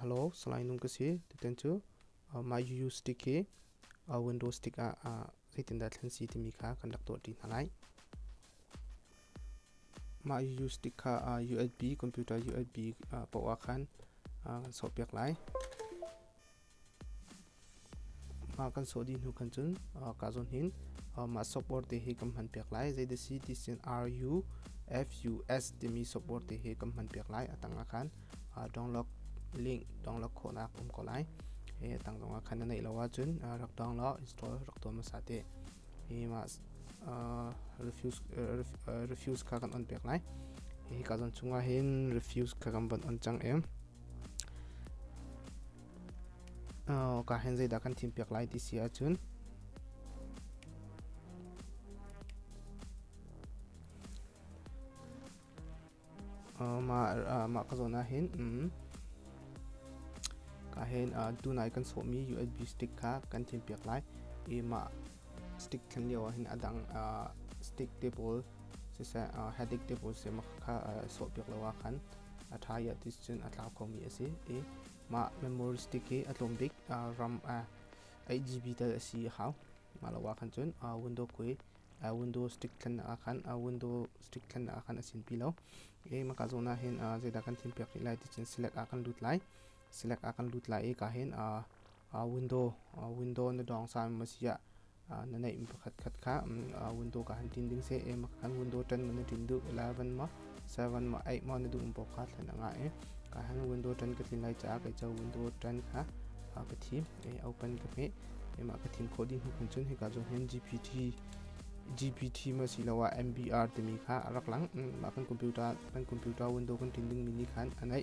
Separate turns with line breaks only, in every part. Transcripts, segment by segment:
Hello, salai nung ka si. Tutan cu my UU stick hi window stick ah zeitindah thlen si timi kha kan rak tuah ṭi hna lai. Mah UU stick kha USB, computer USB poah khan kan sawhpiak lai. kan sawh dih hnu khan cun kaa zawn hin mah software te hi kan hman piak lai zei si ti sin RUFUS timi software te hi kan hman piak lai a tang ah khan download link download khawhnak um ko lai a tang zong ah khan na neih lo ah cun rak download install rak tuah hmasa teh hi mah refuse kha kan on piak lai hi ka zawn chung ah hin refuse kha kan von on cang em Ka hin zeidah kan thimpiak lai ti si ahcun mah ka zawn ahhin ka hin tunai kan sawhmi USB stick kha kan thimpiak lai i mah Stick khan lio ah hin a dang stick te pawl siseh headache te pawl siseh kha sawhpiak lo ah khan a ṭha i a tis cun a tlau kho mi a si. I mah memory stick hi a tlawm bik RAM 8GB tal a si i hau. Mah lo ah khan cun window kui window stick thlennak ah khan window stick thlennak ah khan a sinpi lo. I mah ka zawn ah hin zeidah kan thim piak rih lai ti cun select ah kan lut lai. Select ah kan lut lai i ka hin window window na dong sa ma sia na neih mi pakhat khat kha window ka han tin ding se e ma kan window ṭan ma na ṭin duh 11 ma 7 ma 8 ma na duh mi boka thlen anga e ka han window ṭan ka tlin lai ca ka cho window ṭan kha ka thi e open ka pe e ma ka thin kho di hnu kun chun he ka zo hen GPT GPT ma si lo ah MBR timi kha rak lang ma kan computer kan computer window kan tin ding mi ni khan anai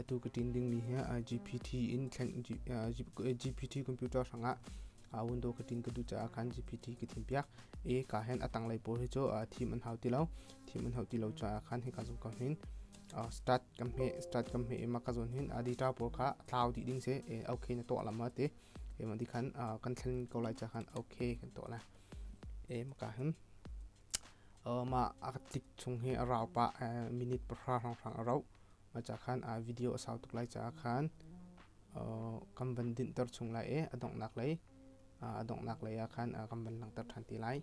atu ka tin dingmi hi GPT in thlen GPT computer hrangah a window ka tin ka duh caah khan GPT ka thim piak e ka hen atang lei pawl hi chu thim an hau ti lo thim an hau ti lo caah khan hi ka zong ka hin start kam he start kam he ema ka zon hin data pawl kha thlau ti ding se e okay na to lama te ema di khan kan thlen ko lai cha khan okay kan to la e ma ka hin Mah a tlik chung hi a rau pah minute pahra hrawnghrang a rauh. Mah caah khan video a sau tuk lai caah khan kan van dinhter chung lai i a donghnak lei a donghnak lei ah khan kan van langhter ṭhan ti lai.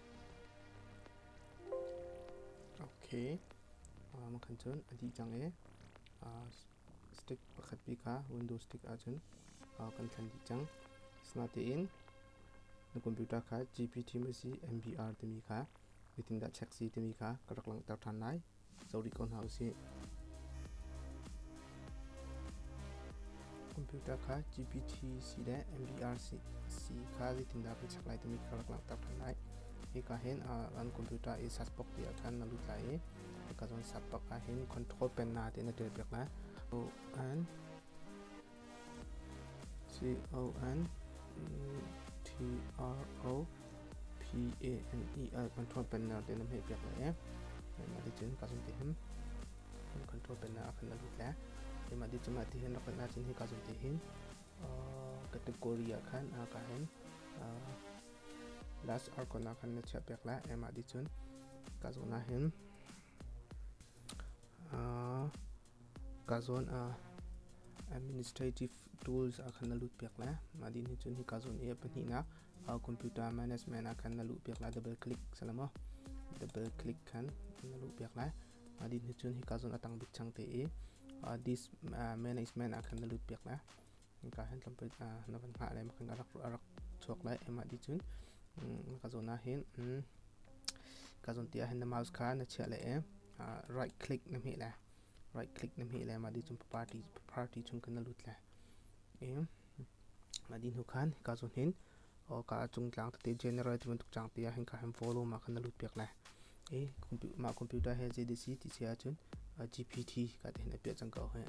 Ok, makan cun a dih cang i stick pakhat pi kha window stick ahcun kan thlen dih cang. Asinain na computer kha GPT mazi MBR timi kha zeitindah check si timi kha ka rak langhter ṭhan lai. zo rih ko hna usih. Computer kha GPT si le MVR si, si kha zeitindah kan chek lai timi kha rak langhter ṭhan lai. Hika hin an computer i search box te ah khan na lut lai i hika zawn search box ah hin control pen na te na ṭelpek lai. And Coro P-A-N-E ah control panner te nan hmeh piak lai e. Mah ti cun ka zun ti him. Control panner ah khan na lut le. Mah ti cun mah ti hin rak kal na cun hi ka zun ti hin. Category ah khan ka hin. Last icon ah khan na chiah piak la. Mah ti cun ka zun na hin. Ka zawn ah administrative tools ah khan na lut piak le mah din cun hi ka zawn i a pahnihnak computer management ah khan na luh piak la double click sala maw double click khan na luh piak lai mah din cun hi ka zawn a tang bik chang te i this management ah khan na lut piak la Hingka hin tlampin ah na van ngah le makan ka rak chuak lai emah di cun ka zawn ah hin ka zawn ti ah hin na mouse kha na chiah le right click na hmeh le right click na hmeh le mah di cun party chung kan na lut le mah di hnu khan ka zawn hin awka a cung tlang tete general ti bantuk cang te ah hin ka hin volume ah khan na lut piak lai i mah computer he JDC ti si ahcun GPT ka ti hin a piah cang ko hi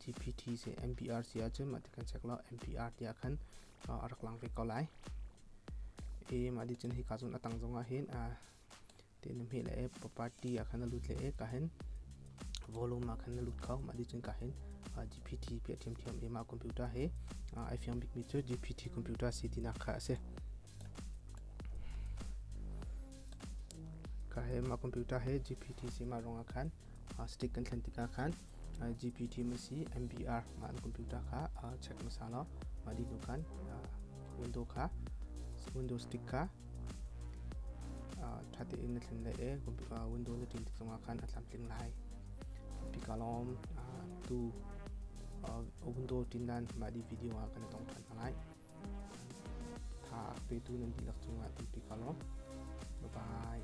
GPT se MPR si ahcun mah ti kan check law MPR ti ah khan a rak lang ve ko lai i mah di cun hi ka zun a tang zong ah hin te le hmeh le e party ah khan a lut le e ka hen volume ah khan na lut kho ma di cun ka hen GPT pe thiam thiam e ma computer he ai fiang bik mi cu GPT computer si tina kha ase ka he ma computer he GPT si ma rong ah khan stick kan thlen tikah khan IGPT masi MBR mah an computer kha check hmasa law mah dihnu khan window kha window stick kha ṭha tein na tling lai i window na tlin tik zongah khan a tlamtling lai pikalawm tu window tindan mah di video ah kan i tong ṭhan hna lai tha petu nan dihlak cungah ti pikalawm bye bye